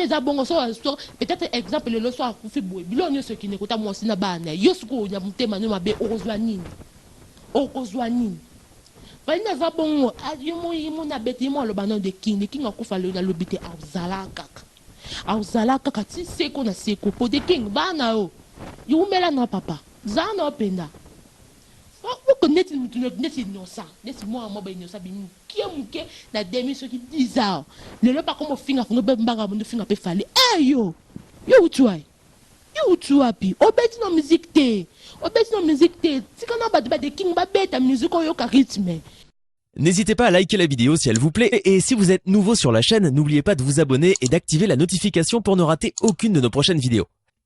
Eza bongo soki a soki peut etre exemple lelo soki akufi boye biloko nionso ekende kota muasi na bana naye yo sikoyo na motema nayo mabe okozua nini? okozua nini? Fally naza bongo a yemo yemo na bete yemo aloba nao the king the king akufa lelo nalobi te akozala kaka akozala kaka ti seko na seko po the king ba nayo yo wumela nao papa za nao penda oko neti mutu neti innocent neti mua mua ba innocent bimi Kiee muke na demi soki 10 ans lelo ba komo finga funga pe mbanga mundo finga pe fally eeh yo yo wuti wayi yo wuti wapi obeti na musique te obeti na musique te tika na batu ba the king ba beta musique oyoka rythme. N'hesitez pas à liker la vidéo si elle vous plaît et si vous êtes nouveau sur la chaîne, n'oubliez pas de vous abonner et d'activer la notification pour ne rater aucune de nos prochaines vidéos.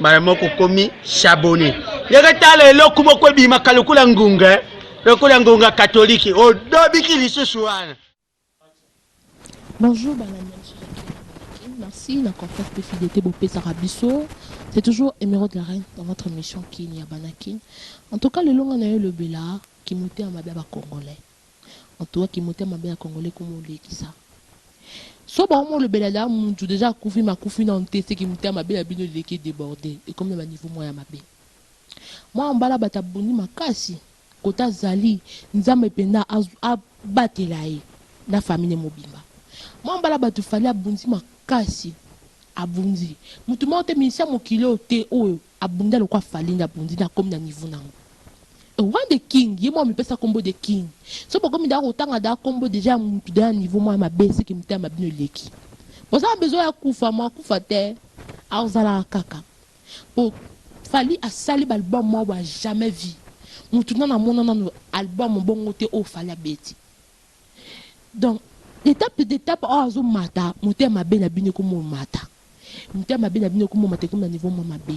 mbala moko okomi shabone ndenge tala eloko moko ebimaka lokola ngunga eh? lokola ngunga katolike odobiki lisusu wana bonjour banani merci na confiance mpe fidélité bopesaka biso c'est toujours émeraude la reine dans votre émission kin ya banakin en tout cas lelonga na yo elobela kimote ya mabe ya bacongolais Mutu ya kimotema mabe ya congolais ko molekisa so ba omolobela da mutu dejà akufi mais akufi nanu te se kimotema mabe na bino eleki e deborde ekomi na ba niveau moko ya mabe Mwana mobali abata abundi makasi kote azali nzambe penza a batela ye na famille ne mobimba Mwana mobali ya batu Fally abundi makasi abundi mutu moko te musicien ya mokili oyo te oyo Abunda lokola fally nde abundi nde akomi na niveau nango Roi de king ye moko amipesa kombo de king soki bokomi dejà kotanga dejà kombo dejà ya mutu dejà niveau moko ya mabe seke mitema na bino eleki boza na besoin ya kufa mua kufa te akozalaka kaka po fally asali ba album moko boye ya jamais vu mutu nanu amona nanu album bongo te oyo fally abeti donc d'etape d'etape oyo azomata motema mabe na bino ekomomata. Mitema mabe na bino eko momata ekomi na niveau mwa mabe.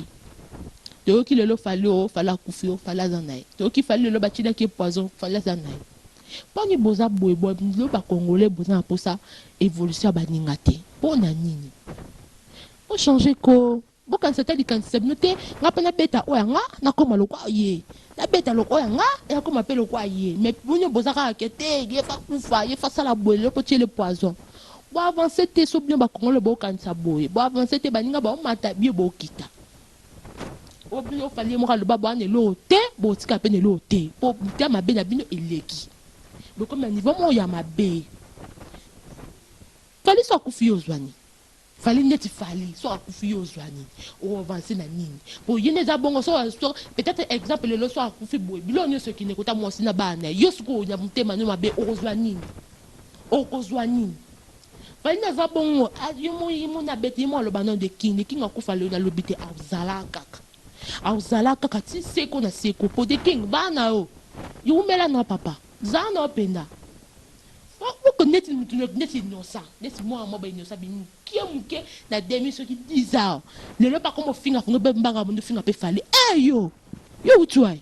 Toyoki lelo Fally oh Fally akufi oh Fally aza na ye. Toyoki Fally lelo ba tielaki ye poison Fally aza na ye. Pona nini boza boye bino ba congolais boza na posa evolution ya ba ninga te pona nini? Bo changer koo bo kanisa ata likanisi na bino te nga pe na beta oyo ya nga na koma lokola ye na beta loko ya nga na koma pe lokola ye mais bino boza kaka ke te ye fa kufa ye fa sala boye lelo po tiele poison Bo avancer te soki bino ba congolais bo kanisa boye bo avancer te baninga bao mata bino bo kita po bino fally ye moko aloba boa na eloko te bo tika pe na eloko te po butu ya mabe na bino eleki bo komi na niveau moko ya mabe fally so akufi yo ozua nini fally neti fally so akufi yo ozua nini o avancer na nini po ye nde eza bongo so so peut etre exemple lelo so akufi boye biloko nioso ekende kota muasi na bana na yo sikoyo na motema no mabe okozua nini Okozua nini? Fally nde aza bongo yo moni abeti ye moko aloba nanu de king de king akufa lelo lobi te akozala kaka akozala kaka ti seko na seko po de king ba na yo yo wumela na yo papa zala na yo penza oko neti mutu neti innocent neti mwana moko ba innocent abimi mukie mukie na demi soki dix ans lelo pe akomi ofinga finga pe mbanga abandi ofinga pe fally eh yo yo wuti wayi?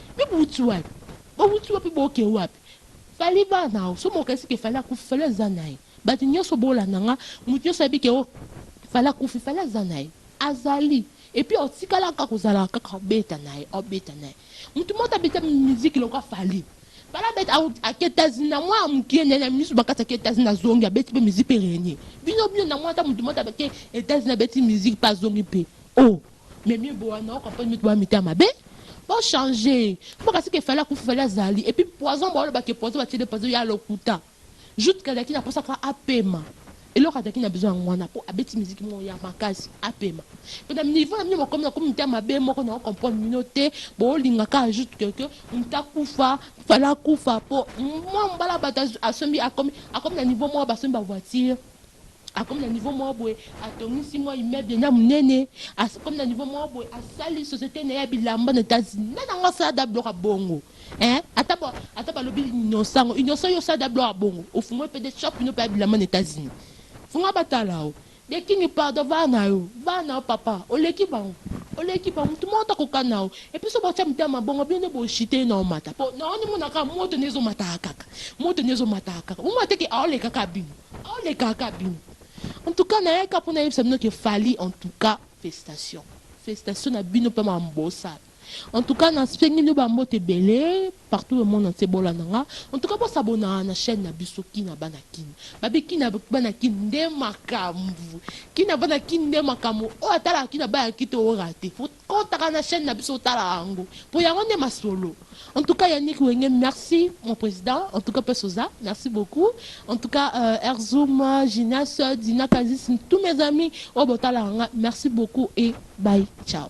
Yo bowuti wapi bowuti wapi boke wapi fally va na yo somo okanisi ke fally akufi fally aza naye batu nioso bolanda nga mutu nioso ayebi ke oh fally akufi fally aza naye azali epuis otikala kaka ozalaka kaka obeta naye obeta naye mutu moko te abeta musique lokola fally fally abeta aketazi na mwana mukie naye na misu bakati ake etazi na zongi abeti pe musique pe renie bino bino na mona ata mutu moko te ake etazi na beti musique pe azongi pe oh Mais mieux boa nao comprendre mieux boa mitema mabe bo changer bo kasi ke fallait akufi fallait azali et puis poison bo loba ke poison ba tiele poison ya lokuta juste que azalaki na posa ka apema eloko azalaki na besoin yango wana po abeti musique moko ya makasi apema pe na niveau na bino bokomi na komi mitema mabe moko na comprendre bino te bo linga ka juste que que mutu akufa fallait akufa po mwa mbala bato asombi akomi akomi na niveau moko basombi ba voiture Akomi na niveau moko boye, atongisi mwa immeuble na ya munene, akomi na niveau moko boye, asali societe na ye ya bilamba na Etats Unis. Nani ango asalada biloko ya bongo hein? Ata ba ata balobi innocent ango, innocent yo osalada biloko ya bongo? Ofungoli pe de shop no pe ya bilamba na Etats Unis? Fungola batala yo. The king pardon vaya na yo, vaya na yo papa, oleki bango, oleki bango, mutu moko te akoka na yo. Et puis soki botia mitema ma bongo, bino nde bo chute ye na omata po na yo nde emonaka kaka moto nde ezo mataka kaka, moto nde ezo mataka kaka, bomona te que aoleka kaka bino? Oleka ka bino en tout cas nayaki kaka pona nayebisa bino que fally en tout cas fecitation fecitation na bino pe ma mbosa en tout cas nasengi bino ba mbote ebele partout le monde entier bolanda nga en tout cas bo s'abonaka na chaine na biso kin na bana kin babi kin na bana kin nde makambu kin na bana kin nde makambu oyo atalaka kin na bana kin te o rate. Kotaka na chaine na biso otala yango po yango nde masolo en tout cas Yannick wenge merci mon president en tout cas pasi oza merci beaucoup en tout cas euh, Erzoum Genius Dina Kazis tous mes amis oyo botalaka nga merci beaucoup et bye ciao